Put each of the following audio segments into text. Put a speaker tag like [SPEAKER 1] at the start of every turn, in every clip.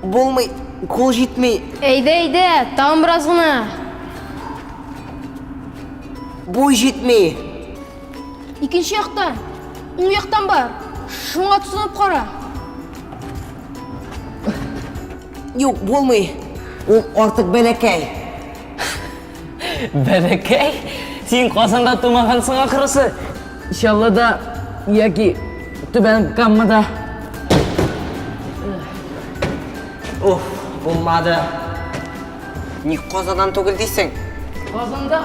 [SPEAKER 1] Булмый, кул җитмей. Әйдә, әйдә,
[SPEAKER 2] тагын бераз гына.
[SPEAKER 1] Бу җитмей.
[SPEAKER 2] Икенче яктан, уң яктан бар. Шуңа тотынып кара.
[SPEAKER 1] Юк, булмый. Ул артык бәләкәй.
[SPEAKER 3] Бәләкәй, син Казанда тумагансың ахрысы. Чаллыда яки Түбән Каммада.
[SPEAKER 1] Уф, булмады. Ник Казаннан түгел дисең? Казанда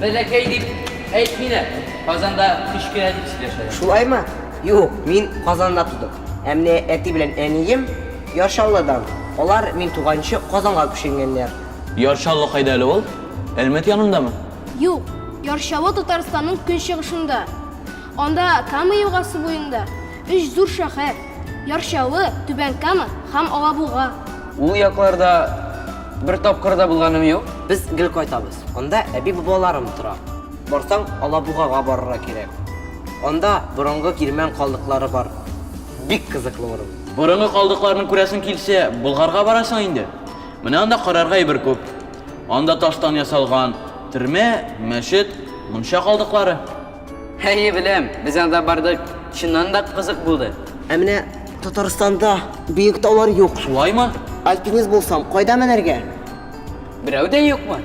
[SPEAKER 3] бәләкәй дип әйтмиләр. Казанда кечкенә дип сөйләшәләр. Шулаймы?
[SPEAKER 1] Юк, мин Казанда тудым. Ә менә әти белән әнием Яр Чаллыдан. Алар, мин туганчы, Казанга күченгәннәр. Яр Чаллы кайда
[SPEAKER 4] әле ул? Әлмәт янындамы? Юк, Яр
[SPEAKER 2] Чаллы Татарстанның көнчыгышында. Анда, Кама елгасы буенда, өч зур шәһәр, Яр Чаллы, Түбән Кама һәм Алабуга. Ул якларда
[SPEAKER 3] бер тапкыр да булганым юк. Без гел кайтабыз.
[SPEAKER 1] Анда әби-бабаларым тора. Барсаң, Алабугага барырга кирәк. Анда борынгы кирмән калдыклары бар. Бик кызыклы урын. Борынгы калдыкларны
[SPEAKER 4] күрәсең килсә, Болгарга барасың инде. Менә анда карарга әйбер күп. Анда таштан ясалган төрмә, мәчет, мунча калдыклары. Әйе,
[SPEAKER 3] беләм. Без анда бардык, чыннан да кызык булды. Ә менә
[SPEAKER 1] Татарстанда биек таулар юк. Шулаймы?
[SPEAKER 4] Альпинист булсам,
[SPEAKER 1] кайда менәргә? Берәү
[SPEAKER 3] дә юкмы?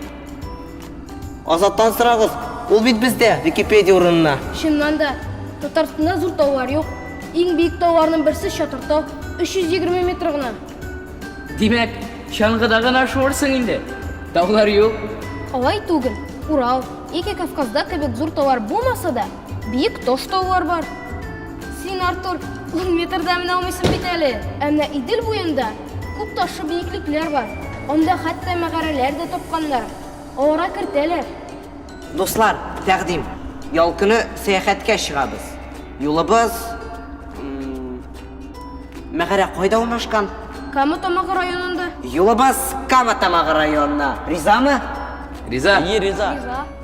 [SPEAKER 1] Азаттан сорагыз, ул бит бездә, Википедия урынына. Чыннан да,
[SPEAKER 2] Татарстанда зур таулар юк. Иң биек тауларның берсе Чатыр тау, 320 метр гына. Димәк,
[SPEAKER 3] чаңгыда гына шуырсың инде. Таулар юк. Алай түгел.
[SPEAKER 2] Урал, яки Кавказда кебек зур таулар булмаса да, Биек таш таулар бар. Син, Артур, ун метрда менә алмыйсың бит әле. Ә менә Идел буенда күп ташлы биеклекләр бар. Анда хәтта мәгарәләр дә тапканнар. Аларга кертәләр. Дуслар,
[SPEAKER 1] тәкъдим. Ял көне сәяхәткә чыгабыз. Юлыбыз... Мәгарә кайда урнашкан? Кама Тамагы
[SPEAKER 2] районында. Юлыбыз
[SPEAKER 1] Кама Тамагы районына. Ризамы? Риза. Әйе,
[SPEAKER 3] риза. Риза.